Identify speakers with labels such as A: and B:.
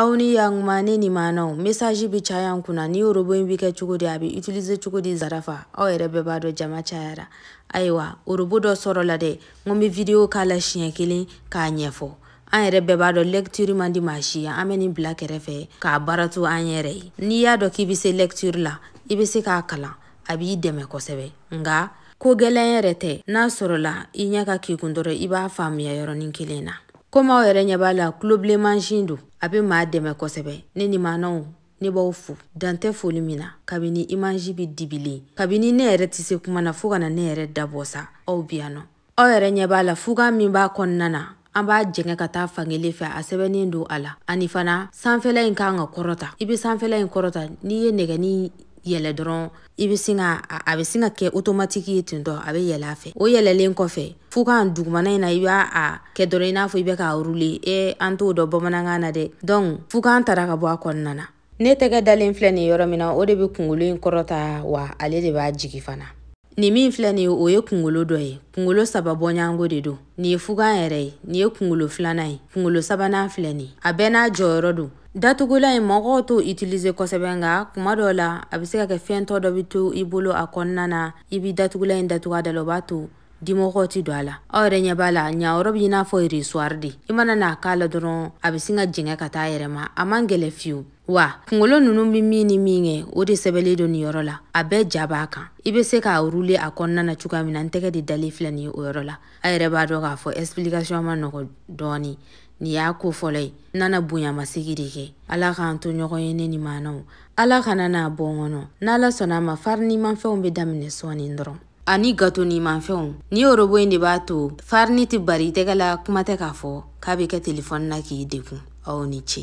A: aw ni yankuma ne nimanw mesaji bi caya n kunna nin orobo in bi kɛ cogo di a bi utilize cogo di zarafa aw yɛrɛ bɛɛ b'a dɔn jama cayara ayiwa orobo dɔ sɔrɔla dɛ n be video k'a la siɲɛ kelen k'a ɲɛfɔ an yɛrɛ bɛɛ b'a dɔn lɛktiri man di maa si an be nin bila kɛrɛfɛ k'a baara to an yɛrɛ ye n'i y'a dɔn k'i be se lɛktiri la i be se k'a kalan a b'i dɛmɛ kosɛbɛ nga ko gwɛlɛn yɛrɛ tɛ n'a sɔrɔla i ɲɛ ka k'i kun dɔrɔn i b'a faamuya yɔrɔnin kelen na komi aw yɛrɛ ɲɛ b'a la tulobilen mansin don a bɛ maa dɛmɛ kosɛbɛ ne nimanw ne b'aw fo dantɛ foli min na kabini imaji bɛ dibilen kabini ne yɛrɛ tɛ se kuma na fo ka na ne yɛrɛ da bɔ sa aw bi yan nɔ aw yɛrɛ ɲɛ b'a la fugan min b'a kɔnɔna na an b'a jɛngɛ ka taa fankelen fɛ a sɛbɛnnen don a la ani fana sanfɛla in kan ka kɔrɔta i bɛ sanfɛla in kɔrɔta n'i ye nɛgɛni yɛlɛ dɔrɔn i bɛ sin ka a bɛ sin ka kɛ otomatiki ye ten tɔ a bɛ yɛlɛ a fɛ o yɛlɛlen kɔfɛ fugan dugumana in na i b'a a kɛ dɔrɔn i n'a fɔ i bɛ k'a rule e an t'o dɔn bamanankan na dɛ donc fugan tara ka bɔ a kɔnɔna na ne tɛgɛ dalen filɛ nin yɔrɔ min na o de bɛ kunkolo in kɔrɔta wa ale de b'a jigi fana nin min filɛ nin ye o ye kunkolo dɔ ye kunkolo saba bɔɲɔgɔnko de don nin ye fugan yɛrɛ ye nin ye kungolo filanan ye kungolo sabanan filɛ nin a bɛɛ n'a jɔyɔrɔ don datugulan in mɔgɔw t'o utiliser kosɛbɛ nka kuma dɔw la a bɛ se ka kɛ fɛn tɔ dɔ bɛ to i bolo a kɔnɔna na i bɛ datugulan in datugu a da la o b'a to dimɔgɔw tɛ don a la aw yɛrɛ ɲɛ b'a la yan yɔrɔ bɛ i n'a fɔ resuwari de i mana maga a la dɔrɔn a bɛ sin ka jɛngɛ ka taa a yɛrɛ ma a man gɛlɛ fiyewu wa kungolo nunu bɛ min ni min kɛ o de sɛbɛlen don nin yɔrɔ la a bɛɛ ja b'a kan i bɛ se k'a rule a kɔnɔna na cogoya min na n tɛgɛ de dalen filɛ nin ye o yɔrɔ la a yɛrɛ b'a dɔn k'a fɔ explication man nɔgɔ dɔɔni nin y'a ko fɔlɔ ye n nana bonyamasegi de kɛ ala k'an to ɲɔgɔn ye ne nimanw ala kana an bɔ ɲɔgɔn na n'ala sɔnna a ma farinimanfɛnw bɛ daminɛ sɔɔni dɔrɔn ani gatonimanfɛnw nin orobo in de b'a to farini tɛ bari i tɛgɛ la kuma tɛ k'a fɔ k'a bɛ kɛ telefɔni na k'i degun aw ni ce